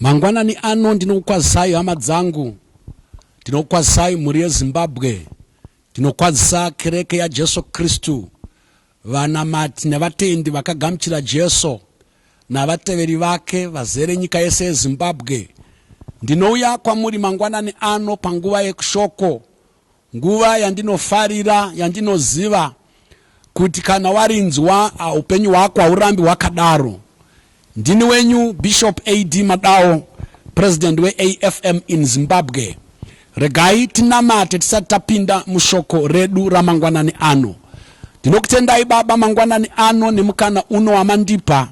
mangwanani ano ndinokukwazisai hama dzangu ndinokukwazisai mhuri yezimbabwe ndinokwazisa kereke yajesu kristu Vanamati nevatendi vakagamuchira Jesu navateveri vake vazere nyika yese yeZimbabwe. Ndinouya kwamuri mangwanani ano panguva yekushoko, nguva yandinofarira, yandinoziva kuti kana warinzwa upenyu hwako haurambi hwakadaro. Ndini wenyu Bishop AD Madawo, President weAFM in Zimbabwe. Regai tinamate tisati tapinda mushoko redu ramangwanani ano. Ndinokutendai Baba mangwanani ano nemukana uno wamandipa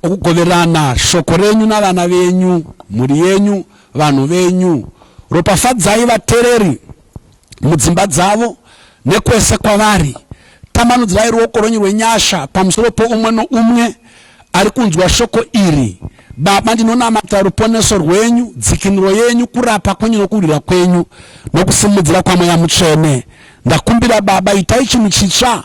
okugoverana shoko renyu navana venyu, mhuri yenyu, vanhu venyu. Ropafadzai vatereri mudzimba dzavo nekwese kwavari. Tambanudzirai ruoko rwenyu rwenyasha pamusoro poumwe noumwe ari kunzwa shoko iri. Baba, ndinonamata ruponeso rwenyu, dzikinuro yenyu, kurapa kwenyu nokurwira kwenyu nokusimudzira kwaMweya Mutsvene. Ndakumbira Baba, itai chinhu chitsva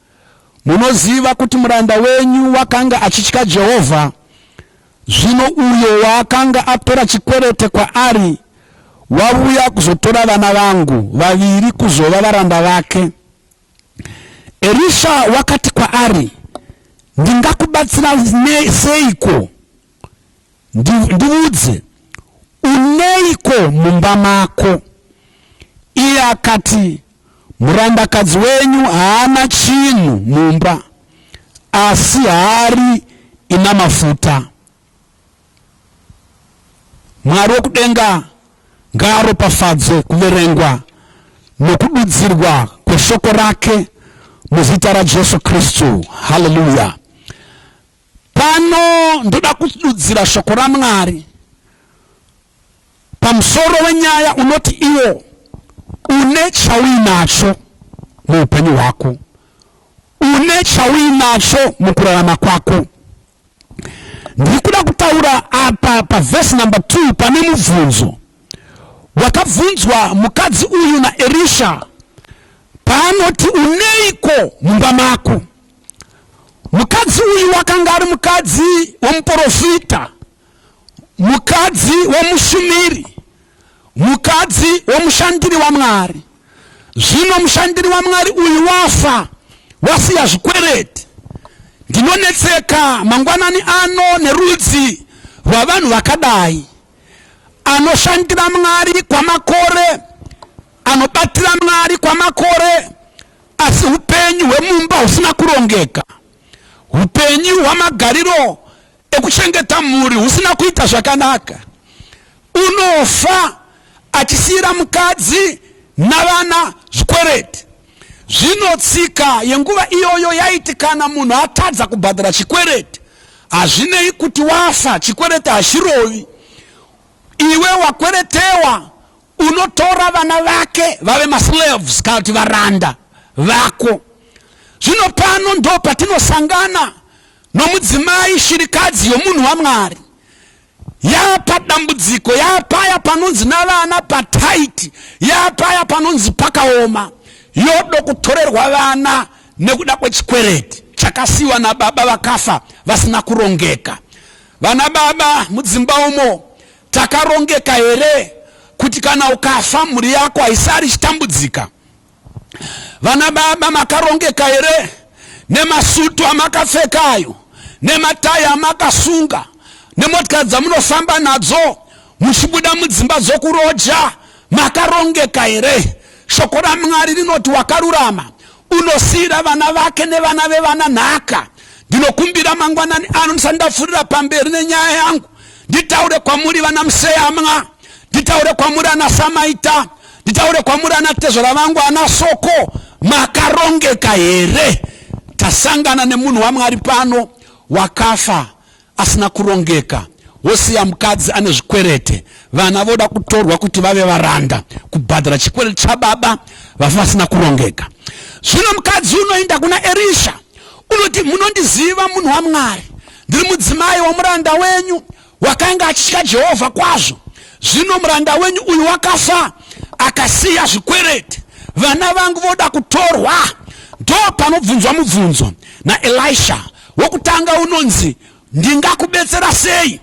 Munoziva kuti muranda wenyu wakanga achitya Jehovha, zvino uyo waakanga atora chikwerete kwaari wavuya kuzotora vana vangu vaviri kuzova varanda vake. Erisha wakati kwaari, Ndingakubatsira seiko? Ndiudze, uneiko mumba mako? Iye akati, Murandakadzi wenyu haana chinhu mumba, asi hari ina mafuta. Mwari wokudenga ngaaropafadze kuverengwa nokududzirwa kweshoko rake muzita raJesu Kristu. Haleluya! Pano ndoda kududzira shoko raMwari pamusoro wenyaya unoti iwo une chauinacho muupenyu hwako, une chauinacho mukurarama kwako. Ndiri kuda kutaura apa pavhesi number 2 pane mubvunzo wakabvunzwa mukadzi uyu naErisha paanoti uneiko mumba mako. Mukadzi uyu wakanga ari mukadzi womuporofita, mukadzi womushumiri, mukadzi womushandiri waMwari. Zvino mushandiri waMwari uyu wafa, wasiya zvikwereti. Ndinonetseka mangwanani ano nerudzi rwavanhu vakadai. Anoshandira Mwari kwamakore, anobatira Mwari kwamakore, Asi upenyu hwemumba husina kurongeka, upenyu hwamagariro ekuchengeta mhuri husina kuita zvakanaka, unofa achisiyira mukadzi navana zvikwereti. Zvino tsika yenguva iyoyo yaiti kana munhu atadza kubhadhara chikwereti, hazvinei kuti wafa, chikwereti hachirovi. Iwe wakweretewa unotora vana vake vave maslaves kana kuti varanda vako zvino pano ndo patinosangana nomudzimai shirikadzi yomunhu wamwari yapa dambudziko yapaya panonzi navana pataiti yapaya panonzi pakaoma yodo kutorerwa vana nekuda kwechikwereti chakasiwa nababa vakafa vasina kurongeka vana baba mudzimba umo Takarongeka here kuti kana ukafa mhuri yako haisari chitambudzika? Vana baba makarongeka here nemasutu amakapfeka ayo nematai amakasunga nemotikari dzamunofamba nadzo muchibuda mudzimba dzokuroja makarongeka here shoko ramwari rinoti wakarurama unosiyira vana vake nevana vevana nhaka ndinokumbira mangwanani ano ndisati ndapfuurira pamberi nenyaya yangu nditaure kwamuri vana museyamwa nditaure kwamuri ana samaita nditaure kwamuri ana tezvara vangu ana soko makarongeka here tasangana nemunhu wamwari pano wakafa asina kurongeka wosiya mukadzi ane zvikwerete vana voda kutorwa kuti vave varanda kubhadhara chikwerete chababa vafa vasina kurongeka zvino mukadzi unoenda kuna erisha unoti munondiziva munhu wamwari Ndiri mudzimai womuranda wenyu wakanga achitya Jehovha kwazvo. Zvino muranda wenyu uyu wakafa akasiya zvikwereti. Vana vangu voda kutorwa. Ndo panobvunzwa mubvunzo naElisha. Wokutanga unonzi, Ndingakubetsera sei?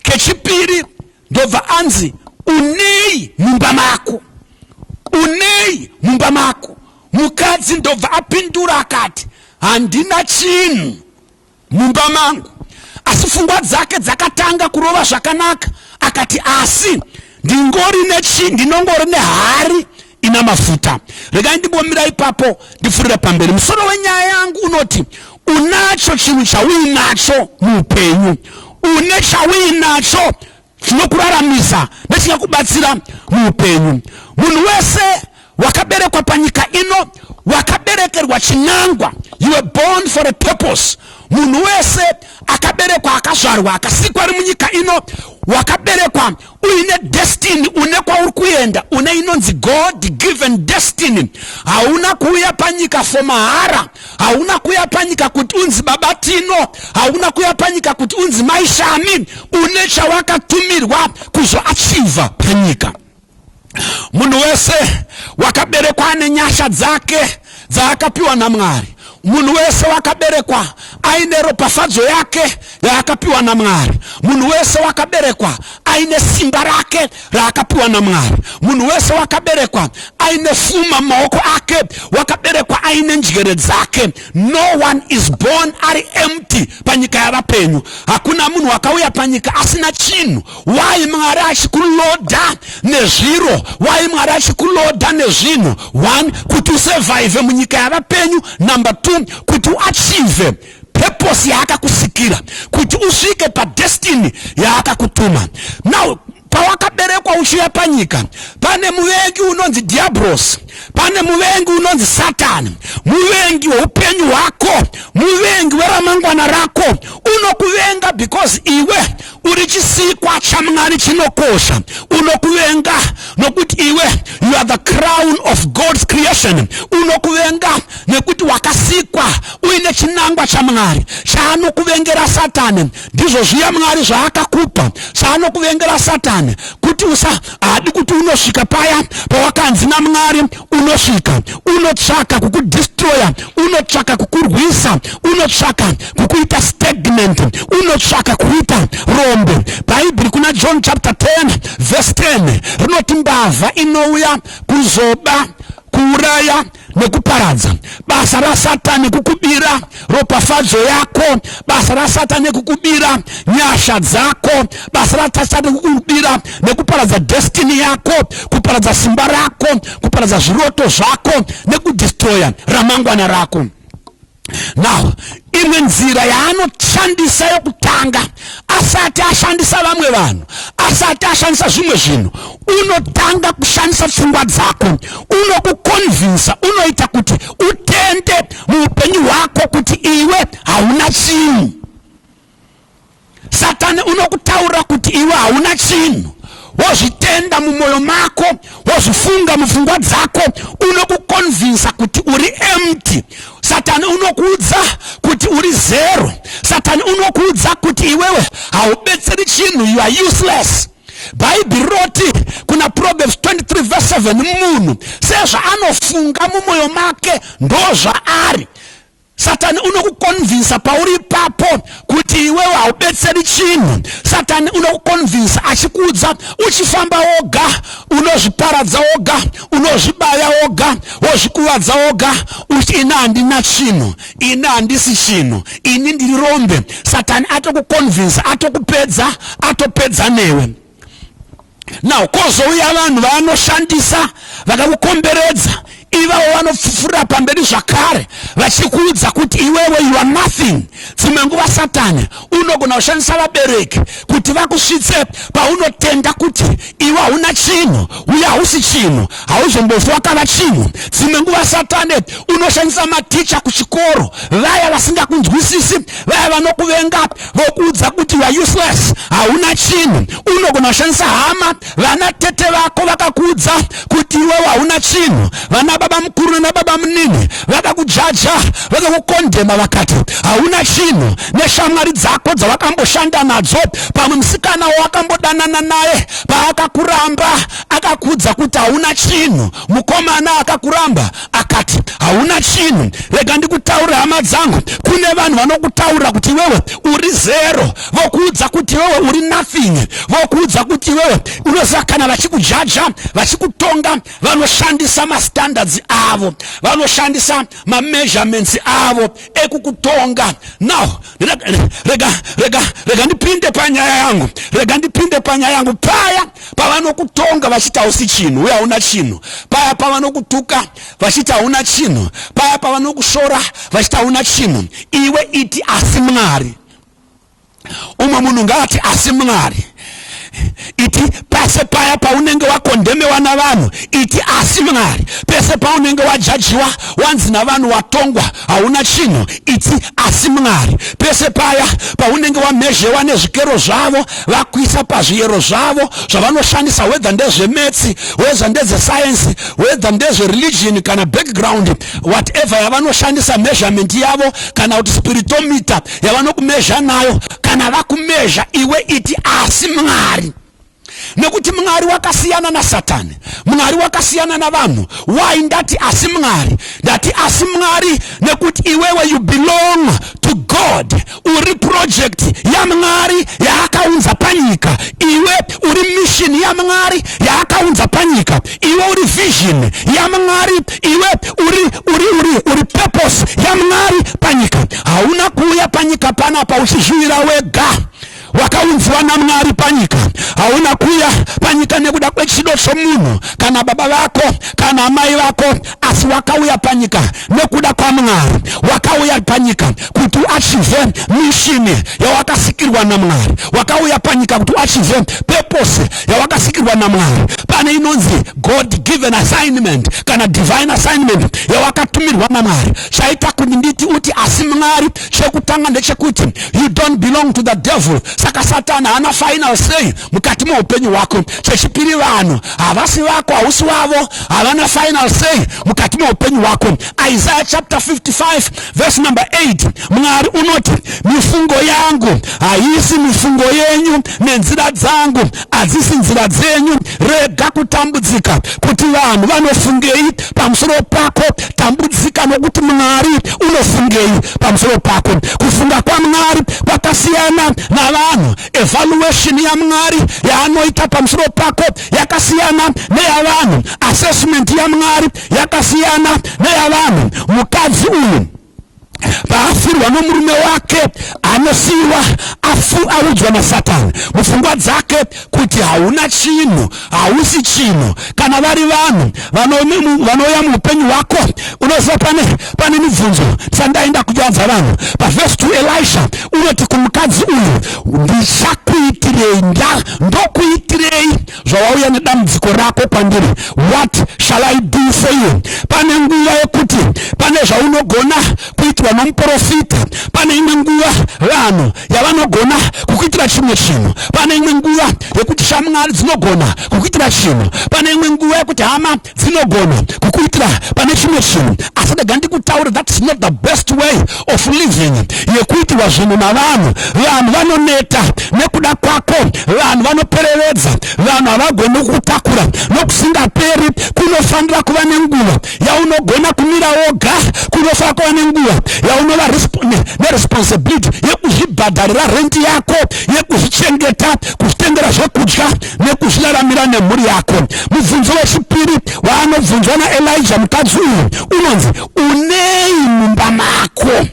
Kechipiri ndobva anzi, Unei mumba mako? Unei mumba mako? Mukadzi ndobva apindura akati, Handina chinhu. mumba mangu asi fungwa dzake dzakatanga kurova zvakanaka akati asi ndingori nechi ndinongori nehari ina mafuta regai ndimbomira ipapo ndifurira pamberi musoro wenyaya yangu unoti unacho chinhu chauinacho muupenyu une chauinacho chinokuraramisa nechingakubatsira muupenyu munhu wese wakaberekwa panyika ino wakaberekerwa chinangwa you were born for a purpose munhu wese akaberekwa akazvarwa akasikwa ari munyika ino wakaberekwa uine destiny une kwauri kuenda une inonzi god given destiny hauna kuuya panyika for mahara hauna kuya panyika kuti unzi baba tino hauna kuya panyika kuti unzi mai shami une chawakatumirwa kuzoachiva panyika munhu wese wakaberekwa ane nyasha dzake dzaakapiwa namwari munhu wese wakaberekwa aine ropafadzo yake yaakapiwa namwari munhu wese wakaberekwa aine simba rake raakapiwa namwari munhu wese wakaberekwa aine fuma maoko ake wakaberekwa aine njere dzake no one is born ari empty panyika yavapenyu hakuna munhu wakauya panyika asina chinhu wai mwari achikuloda nezviro wai mwari achikuloda nezvinhu one kuti usevhaivhe munyika yavapenyu number two kuti uachive purpose yaakakusikira kuti usvike padestiny yaakakutuma now pawakaberekwa uchiuya panyika pane muvengi unonzi diabros pane muvengi unonzi satani muvengi weupenyu hwako muvengi weramangwana rako unokuvenga because iwe uri chisikwa chamwari chinokosha unokuvenga nokuti iwe you are the crown of god's creation unokuvenga nekuti wakasikwa uine chinangwa chamwari chaanokuvengera satani ndizvo zviya mwari zvaakakupa chaanokuvengera satani kuti usa haadi kuti unosvika paya pawakanzi namwari unosvika unotsvaka kukudistroya unotsvaka kukurwisa unotsvaka kukuita stagnant unotsvaka kuita rombe bhaibheri kuna john chapter 10 verse 10 rinoti mbavha inouya kuzoba kuuraya nekuparadza basa rasatani kukubira ropafadzo yako basa rasata nekukubira nyasha dzako basa rasata nekukubira nekuparadza destiny yako kuparadza simba rako kuparadza zviroto zvako nekudistroya ramangwana rako now imwe nzira yaanoshandisa yokutanga asati ashandisa vamwe vanhu asati ashandisa zvimwe zvinhu unotanga kushandisa pfungwa dzako unokukonvinsa unoita kuti utende muupenyu hwako kuti iwe hauna chinhu satani unokutaurira kuti iwe hauna chinhu wozvitenda mumwoyo mako wozvifunga mupfungwa dzako unokukonvinsa kuti uri empty satani unokuudza kuti uri zero satani unokuudza kuti iwewe haubetseri chinhu you are useless bhaibheri roti kuna proverbs 23 vs 7 munhu sezvaanofunga mumwoyo make ndozvaari satani unokukonvinsa pauri ipapo kuti iwewe haubetseri chinhu satani unokukonvinsa achikuudza uchifamba woga unozviparadza woga unozvibaya woga wozvikuvadza woga uti ina handina chinhu Ini handisi chinhu, ini ndiri rombe. Satani atokuconvince, atokupedza, atopedza newe. Now kozouya vanhu vaanoshandisa vakakukomberedza ivawo vanopfufurira pamberi zvakare vachikuudza kuti iwewe you are nothing dzimwe nguva satani unogona kushandisa vabereki kuti vakusvitse paunotenda kuti iwe hauna chinhu uye hausi chinhu hauzombofi wakava chinhu dzimwe nguva satane unoshandisa maticha kuchikoro vaya vasingakunzwisisi vaya vanokuvenga vokuudza kuti youare useless hauna chinhu unogona kushandisa hama vana tete vako vakakuudza kuti iwewe hauna chinhu vana baba mukuru nana baba munini vakakujaja vakakukondema vakati hauna chinhu neshamwari dzako dzavakamboshanda nadzo pamwe musikana wawakambodanana naye paakakuramba akakudza kuti hauna chinhu mukomana akakuramba akati hauna chinhu rega ndikutaure hama dzangu kune vanhu vanokutaura kuti iwewe uri zero vokuudza kuti iwewe uri nothing vokuudza kuti iwewe unoziva kana vachikujaja vachikutonga vanoshandisa mastandards avo vanoshandisa mameasurements avo ekukutonga now rega rega rega rega ndipinde panyaya yangu rega ndipinde panyaya yangu paya pavanokutonga vachiti hausi chinhu uye hauna chinhu paya pavanokutuka vachiti hauna chinhu paya pavanokushora vachiti hauna chinhu iwe iti asi mwari umwe munhu ngaati asi mwari iti pese paya paunenge wakondhemewa navanhu iti asi mwari pese paunenge wajajiwa wanzi navanhu watongwa hauna chinhu itsi asi mwari pese paya paunenge wamhezhewa nezvikero zvavo vakuisa pazviyero zvavo zvavanoshandisa wedha ndezvemetsi wedha ndedzesayensi wedha ndezvereligion kana background whatever yavanoshandisa measurement yavo kana kuti spiritomita yavanokumezha nayo kana vakumezha iwe iti asi mwari nekuti mwari wakasiyana nasatani mwari wakasiyana navanhu why ndati asi mwari ndati asi mwari nekuti iwewe you belong to god uri project yamwari yaakaunza panyika iwe uri mission yamwari yaakaunza panyika iwe uri vision yamwari iwe uri uri uri uri purpose yamwari panyika hauna kuuya panyika panapa uchizviwira wega wakaunziwa naMwari panyika. Hauna kuya panyika nekuda kwechido chomunhu kana baba vako kana amai vako, asi wakauya panyika nekuda kwaMwari. Wakauya panyika kuti uachive mishini yawakasikirwa naMwari. Wakauya panyika kuti uachive purpose yawakasikirwa naMwari. Pane inonzi God given assignment kana divine assignment yawakatumirwa naMwari. Chaita kuti nditi uti asi Mwari chekutanga ndechekuti you don't belong to the devil saka satani haana final say mukati meupenyu hwako chechipiri vanhu havasi vako hausi wavo havana final say mukati meupenyu hwako isaiah chapter 55 verse number 8 mwari unoti mifungo yangu haisi mifungo yenyu nenzira dzangu adzisi nzira dzenyu rega kutambudzika kuti vanhu vanofungei pamusoro pako tambudzika nokuti mwari unofungei pamusoro pako kufunga kwamwari kwakasiyana navanhu evaluation yamwari yaanoita pamusoro pako yakasiyana neyavanhu assessment yamwari yakasiyana neyavanhu mukadzi uyu paafirwa nomurume wake anosiyiwa audzwa nasatani mupfungwa dzake kuti hauna chinhu hausi chinhu kana vari vanhu vanouya muupenyu hwako unoziva pane pane mibvunzo sandaenda kujanza vanhu pavhesi 2 elisha unoti kumukadzi uyu ndichakuitirei nda ndokuitirei zvawauya nedambudziko rako kwandiri what shall i do for you pane nguva yekuti pane zvaunogona kuitwa nomuprofita pane imwe nguva vanhu yavanogona kukuitira chimwe chinhu pane imwe nguva yekuti shamwari dzinogona kukuitira chinhu pane imwe nguva yekuti hama dzinogona kukuitira pane chimwe chinhu asi ndega ndikutaure thats not the best way of living yekuitirwa zvinhu navanhu vanhu vanoneta nekuda kwako vanhu vanoperevedza vanhu havagoni kutakura nokusingaperi kunofanira kuva nenguva yaunogona kumira woga kunofanira kuva nenguva yaunova neresponsibility yekuzvibhadharira rendi yako yekuzvichengeta kuzvitengera zvekudya nekuzviraramira nemhuri yako mubvunzo wechipiri waanobvunzwa naelija mukadzi uyu unonzi unei mumba mako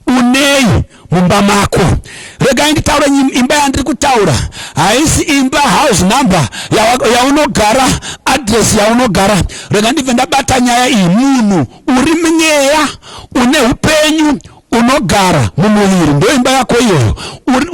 unei mumba mako regai nditaure imba yandiri kutaura haisi imba house number yaunogara adress yaunogara rega ndibve ndabata nyaya iyi munhu uri mweya une upenyu unogara mumuviri ndoimba yako iyoyo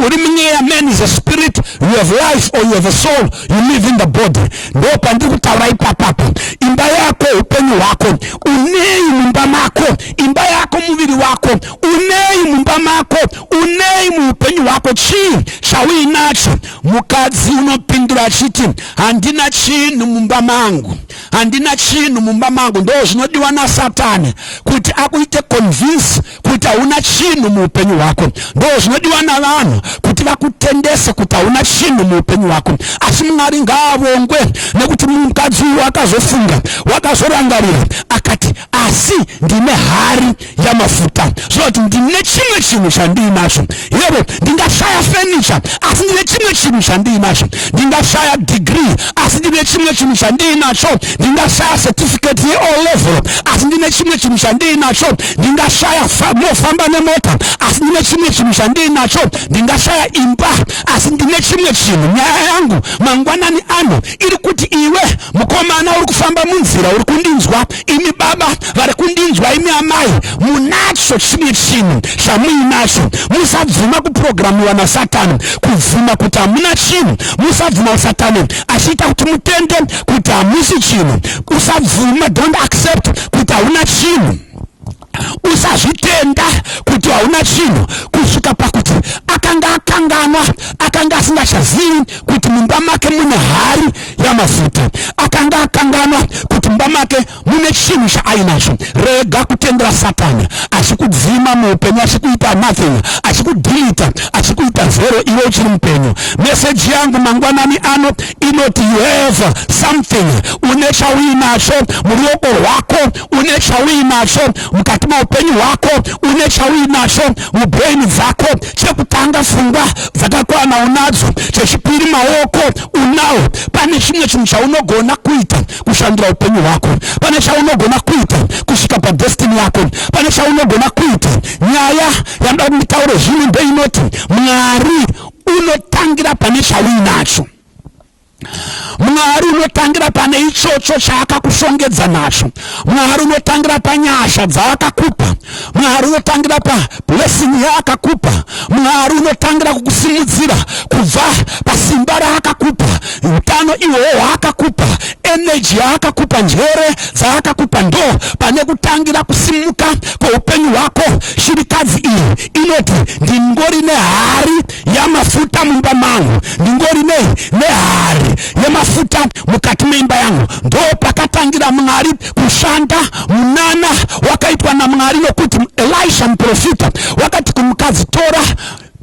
uri munyeya man is a spirit you have life or you have a soul you live in the body ndo pandiri kutaura ipapapa imba yako upenyu hwako unei mumba mako imba yako muviri wako unei mumba mako unei muupenyu hwako chii chauinacho mukadzi unopindura achiti handina chinhu mumba mangu handina chinhu mumba mangu ndo zvinodiwa nasatani kuti akuite convince kuti hauna chinhu muupenyu hwako ndo zvinodiwa navanhu kuti vakutendese kuti hauna chinhu muupenyu hwako asi mwari ngaavongwe nekuti mukadzi uyu wakazofunga wakazorangarira akati asi ndine hari yamafuta zvinoti ndine chimwe chinhu chandiinacho yero ndingashaya fenicha asi ndine chimwe chinhu chandiinacho ndingashaya degree asi ndine chimwe chinhu chandiinacho ndingashaya certificate yeo level asi ndine chimwe chinhu chandiinacho ndingashaya mofamba nemota asi ndine chimwe chinhu chandiinacho ndingashaya imba asi ndine chimwe chinhu nyaya yangu mangwanani ano iri kuti iwe mukomana uri kufamba munzira uri kundinzwa imi baba vari kundinzwa imi amai munacho chimwe chinhu chamuinacho musabvuma kupurogiramiwa nasatani kubvuma kuti hamuna chinhu musabvuma usatani achiita kuti mutende kuti hamusi chinhu usabvuma don't accept kuti hauna chinhu usazvitenda kuti hauna chinhu kusvika pakuti akanga akanganwa akanga asingachazivi kuti mumba make mune hari yamafuta akanga akanganwa kuti mumba make mune chinhu chaainacho rega kutendera satani achikudzima muupenyu achikuita nothing achikudhilita achikuita zero iwe uchiri mupenyu meseji yangu mangwanani ano inoti you have something une chauinacho muruoko rwako une chauinacho mukati meupenyu hwako une chauinacho mubrain dzako chekutanga fungwa dzakakwana unadzo chechipiri maoko unawo pane chimwe chinhu chaunogona kuita kushandira upenyu hwako pane chaunogona kuita kusvika padestini yako pane chaunogona kuita nyaya yanoda kunditaure zvino ndeinoti mwari unotangira pane chauinacho mwari unotangira pane ichocho chaakakushongedza nacho mwari unotangira panyasha dzaakakupa mwari unotangira pablessing yaakakupa mwari unotangira kukusimudzira kubva pasimba raakakupa utano ihwohwo hwaakakupa eneji yaakakupa njere dzaakakupa ndo pane kutangira kusimuka kweupenyu hwako shirikadzi iyi inoti ndingori nehari yamafuta mumba mangu ndingori nei nehari yemafuta mukati meimba yangu ndo pakatangira mwari kushanda munana wakaitwa namwari nokuti elisha muprofita wakati kumukadzi tora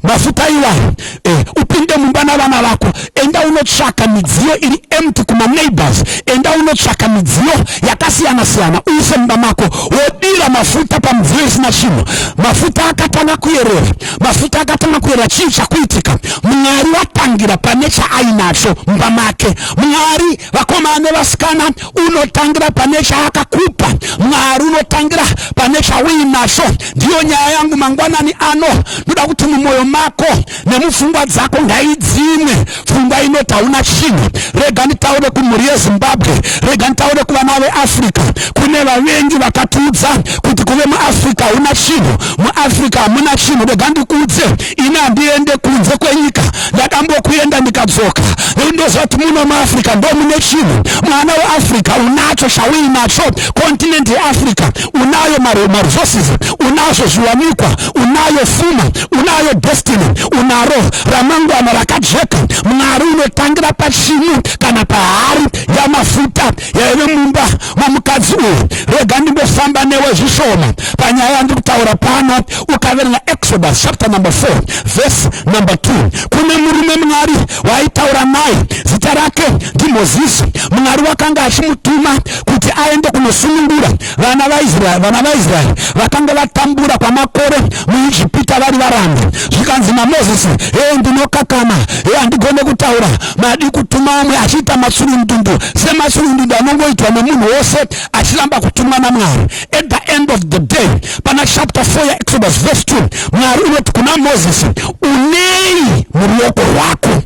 mafuta iwayo eh, upinde mumba navana vako enda unotsvaka midziyo iri empty kumaneighbors enda unotsvaka midziyo yakasiyana siyana uise mumba mako wodira mafuta pamidziyo isina chinhu mafuta akatanga kuyerera mafuta akatanga kuera chii chakuitika mwari watangira pane chaainacho mumba make mwari vakomana nevasikana unotangira pane chaakakupa mwari unotangira pane chauinacho ndiyo nyaya yangu mangwanani ano ndoda kuti mumwoyo mako nemupfungwa dzako ngaidzimwe pfungwa inoti hauna chinhu rega nditaure kumhuri yezimbabwe rega nditaure kuvana veafrica kune vavengi vakatiudza kuti kuve muafrica hauna chinhu muafrica hamuna chinhu rega ndikuudze ini handiende kunze kwenyika ndakambokuenda ndikadzoka nekuti ndoziva kuti muno muafrica ndo mune chinhu mwana weafrica unacho chauinacho kontinent yeafrica unayo maresources unazvo zviwanikwa unayo fuma unayo destiny unaro ramangwana rakajeka mwari unotangira pachinyu kana pahari yamafuta yaive mumba momukadzi uyu rega ndimbofamba newe zvishoma panyaya yandiri kutaura pano ukaverenga exodus chapter number 4 verse number 2 kune murume mwari waitaura naye zita rake ndimozisi mwari wakanga achimutuma kuti aende kunosunungura Vana vaIsraeri vana vaIsraeri vakanga vatambura kwamakore muIjipita vari varambi. Zvikanzi naMozisi, hee ndinokakama, hee handigone kutaura, madi kutuma umwe achiita matsurundundu sematsurundundu anongoitwa nemunhu wose achiramba kutumwa naMwari. At the end of the day, pana chapter 4 yaExodus verse 2, Mwari unoti kuna Mozisi, unei muruoko rwako?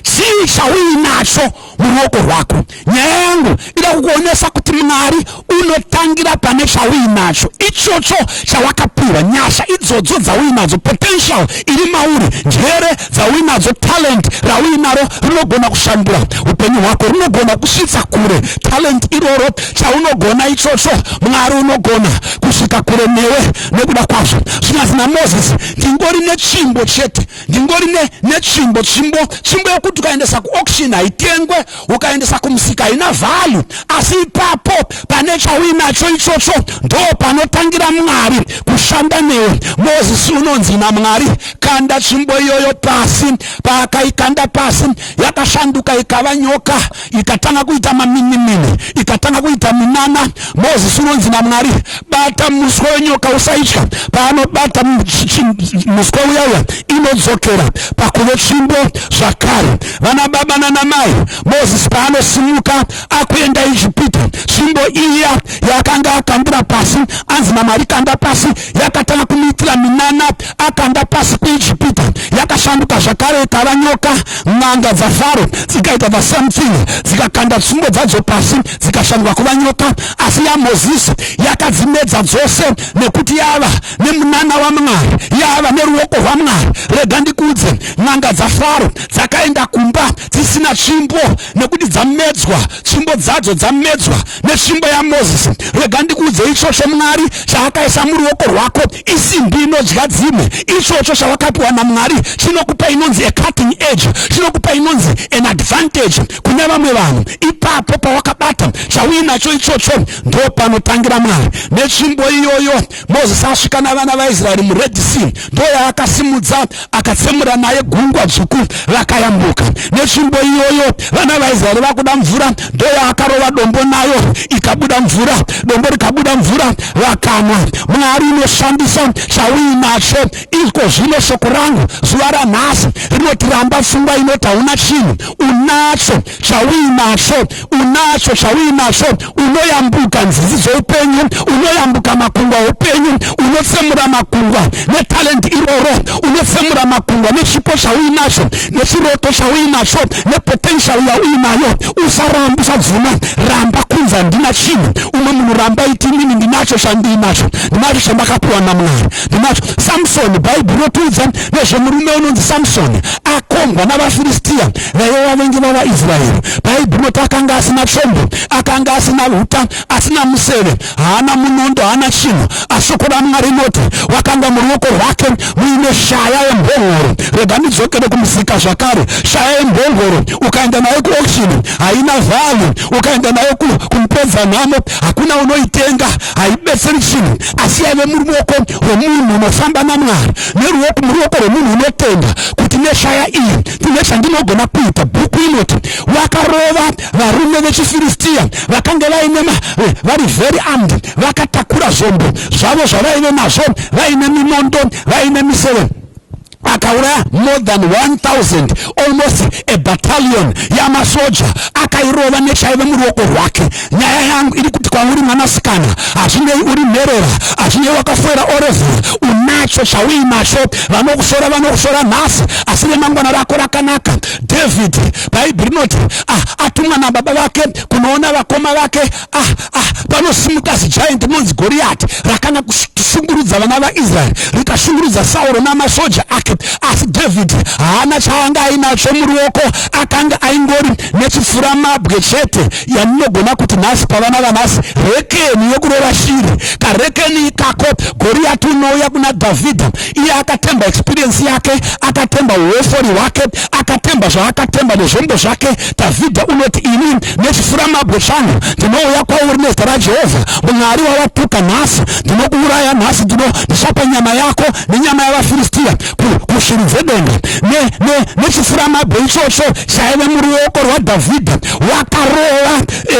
chii chauinacho muruoko rwako nyaya yangu ida kukuonesa kuti mwari unotangira pane chauinacho ichocho chawakapiwa nyasha idzodzo dzauinadzo potential iri mauri njere dzauinadzo talent rauinaro rinogona kushandura upenyu hwako rinogona kusvitsa kure talent iroro chaunogona ichocho mwari unogona kusvika kure newe nekuda kwazvo zvinyazi namozisi ndingori nechimbo chete ndingori netsvimbo tsvimbo tsvimbo yekuti ukaendesa kuauction haitengwe ukaendesa kumusika haina value asi ipapo pane chauinacho ichocho ndo panotangira mwari kushanda newe mozisi unonzi namwari kanda tsvimbo iyoyo pasi paakaikanda pasi yakashanduka ikava nyoka ikatanga kuita maminimini ikatanga kuita minana mozisi unonzi namwari bata muswe wenyoka usaitya paanobata muswe uya uya inodzokera pakuve tsvimbo zvakare vana baba nanamai mozisi paanosimuka akuenda ijipita tsvimbo iya yakanga akambura pasi anzi namwari kanda pasi yakatanga kumuitira minana akanda pasi kuijipita yakashanduka zvakare ikava nyoka n'anga dzafaro dzikaita the same thing dzikakanda tsungo dzadzo pasi dzikashanduka kuva nyoka asi yamozisi yakadzimedza dzose nekuti yava nemunana wamwari yava neruoko rwamwari rega ndikuudze n'anga dzafaro dzakaenda kumba dzisina tsvimbo nekuti dzamedzwa tsvimbo dzadzo dzamedzwa netsvimbo yamozisi rega ndikuudze ichocho mwari chaakaisa muruoko rwako isimbi inodya dzimwe ichocho chawakapiwa namwari chinokupa inonzi acutting age chinokupa inonzi an advantage kune vamwe vanhu ipapo pawakabata chauinacho ichocho ndopanotangira mwari netsvimbo iyoyo mozisi asvika navana vaisraeri mured sea ndoyaakasimudza akatsemura naye gungwa dzvuku vakayambuka netsvimbo iyoyo vana vaisraeri vakuda mvura ndoyaakarova dombo nayo ikabuda mvura dombo rikabuda mvura vakanwa mwari inoshandisa chauinacho iko zvino shoko rangu zuva ranhasi rinotiramba pfungwa inoti hauna chinhu unacho chauinacho unacho chauinacho unoyambuka nzizi dzoupenyu unoyambuka makungwa oupenyu unotsemura makungwa netalenti iroro unotsemura makungwa nechipo chauinacho nechiroto chauinacho nepotential yauinayo usaramba usabvuma ramba kunzi handina chinhu umwe munhu ramba iti inini ndinacho chandiinacho ndinacho chandakapiwa namwari ndinacho samsoni bhaibheri rotiudza nezvemurume unonzi samsoni akombwa navafiristiya vaive vavengi vavaisraeri paibhumoti akanga asina tsvombo akanga asina uta asina museve haana munondo haana chinhu ashoko ramwari noti wakanga muruoko rwake muine shaya yembongoro rega ndidzokere kumusika zvakare shaya yembongoro ukaenda nayo kuokshini haina vhalu ukaenda nayo kumupedza nhamo hakuna unoitenga haibetseri chinhu asi yaive muruoko rwemunhu unofamba namwari neruoko muruoko rwemunhu unotenda kuti neshaya iyi kune zvandinogona kuita bhuku inoti wakarova varume vechifiristiya vakange vaine eh, vari very armed vakatakura zvombo zvavo zvavaive nazvo vaine minondo vaine miseve akauraya more than 1000 almost a battalion yamasoja akairova nechaive muruoko rwake nyaya yangu iri kuti kwauri mwanasikana hazvinei uri mherera hazvinei wakafoera orevhura unacho chauinacho vanokusora vanokusora nhasi asi remangwana rako rakanaka david bhaibheri rinoti ah, atumwa nababa vake kunoona vakoma vake ah, ah, panosimuka zijaint rinonzi goriyati rakana kushungurudza vana vaisraeri rikashungurudza sauro namasoja ake asi david haana chaanga ainacho muruoko akanga aingori nechifuramabwe chete yamunogona kuti nhasi pavana vanhasi rekeni yokurova shiri karekeni ikako goriyati unouya kuna dhavhidha iye akatemba experiensi yake akatemba uofori hwake akatemba zvaakatemba nezvombo zvake dhavhidha unoti ini nechifuramabwe changu ndinouya kwauri nezita rajehovha mwari wawatuka nhasi ndinokuuraya nhasi ndino ndichapa nyama yako nenyama yavafiristiya kushiri dzedenga nechifuramabwe ne, ne ichocho chaive muruoko rwadhavhidha wakarova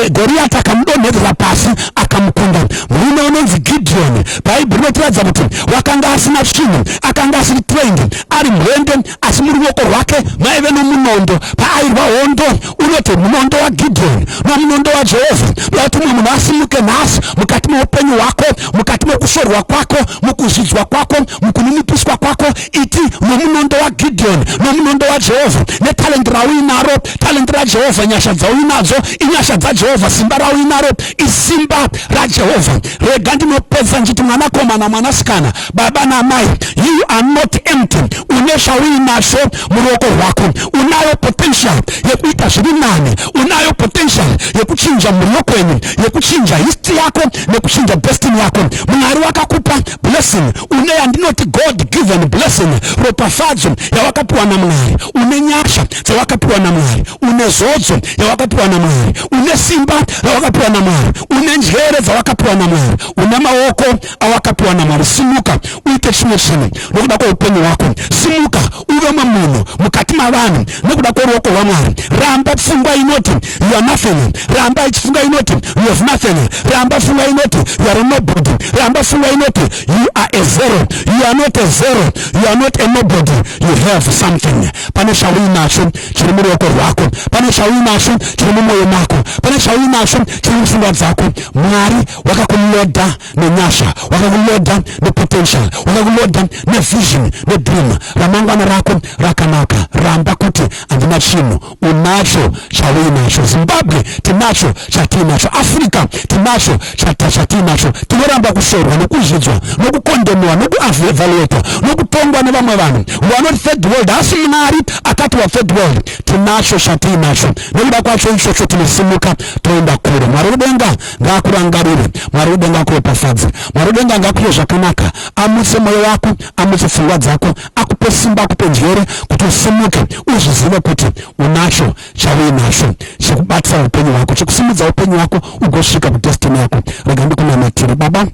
e, goriyati akamudonhedzera pasi akamukunda murume unonzi gidhiyoni bhaibheri rinotiratidza kuti wakanga asina chinhu akanga asiri trained ari mwende asi muruoko rwake maive nomunondo paairwa hondo unoti munondo wagidhoni nomunondo wajehovha ndokuti mumwe munhu asimuke nhasi mukati meupenyu hwako mukati mekushorwa kwako mukuzvidzwa kwako mukuninipiswa kwako iti nomunondo wagidhoni nomunondo wajehovha netalenti rauinaro talenti rajehovha nyasha dzauinadzo inyasha dzajehovha simba rauinaro isimba rajehovha rega ndinopedza nditi mwanakomana mwanasikana baba namai you are not empty une zvauinacho muruoko rwako unayo potential yekuita zviri nane unayo potential yekuchinja mhuri yokwenyu yekuchinja history yako nekuchinja destiny yako mwari wakakupa blessing une yandinoti god given blessing ropafadzo yawakapiwa namwari une nyasha dzawakapiwa namwari une zodzo yawakapiwa namwari une simba rawakapiwa namwari une njere dzawakapiwa namwari une maoko awakapiwa namwari simuka uite chimwe chinhu nokuda kweupenyu hwako simuka uve mamunhu mukati mavanhu nokuda kweruoko rwamwari ramba pfungwa inoti youare nothing ramba ichifunga inoti you have nothing ramba pfungwa inoti youare nobody ramba pfungwa inoti you are a zero you are not a zero you are not a nobody you have something pane chauinacho chiri muruoko rwako pane chauinacho chiri mumwoyo mako pane chauinacho chiri mupfungwa dzako mwari wakakuloda nenyasha wakakuloda nepotential wakakuloda nevision nedream ramangwana rako rakanaka ramba kuti handina chinhu unacho chauinacho zimbabwe tinacho chatiinacho africa tinacho chata chatiinacho tinoramba kushorwa nokuzvidzwa nokukondemewa nokuevaluatwa nokutongwa nevamwe vanhu vanoti third world haasi mwari akati wathird world tinacho chatiinacho nekuda kwacho ichocho tinosimuka toenda kure mwari wedenga ngaakurangarire mwari wedenga akuropafadze mwari wedenga ngaakuye zvakanaka amutse mwoyo wako amutse pfungwa dzako akupe simba akupe njere kuti usimuke uzvizive kuti unacho chauinacho chekubatisa upenyu hwako chekusimudza upenyu hwako ugosvika kudestiny yako rega ndikunamatire baba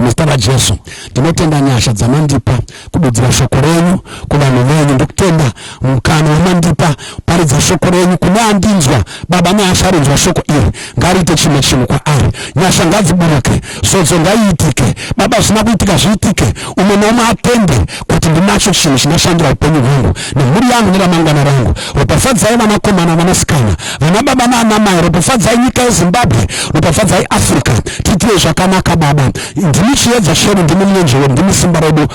muzita rajesu ndinotenda nyasha dzamandipa kududzira shoko renyu kuvanhu venyu ndikutenda mukana wamandipa paridza shoko renyu kune andinzwa baba neasharinzwa shoko iri ngariite chimwe chinhu kwaari nyasha ngadziburuke zodzo ngaiitike baba zvina kuitika zviitike umwe neumwe atende kuti ndinacho chinhu chinoshandira upenyu hwangu nemhuri yangu neramangwana rangu ropafadzai vanakomana vanasikana vana baba naanamai ropafadzai nyika yezimbabwe ropafadzai africa tiitire zvakanaka baba ndimi chiedza chedu ndimi mwenjewe ndimi simba redu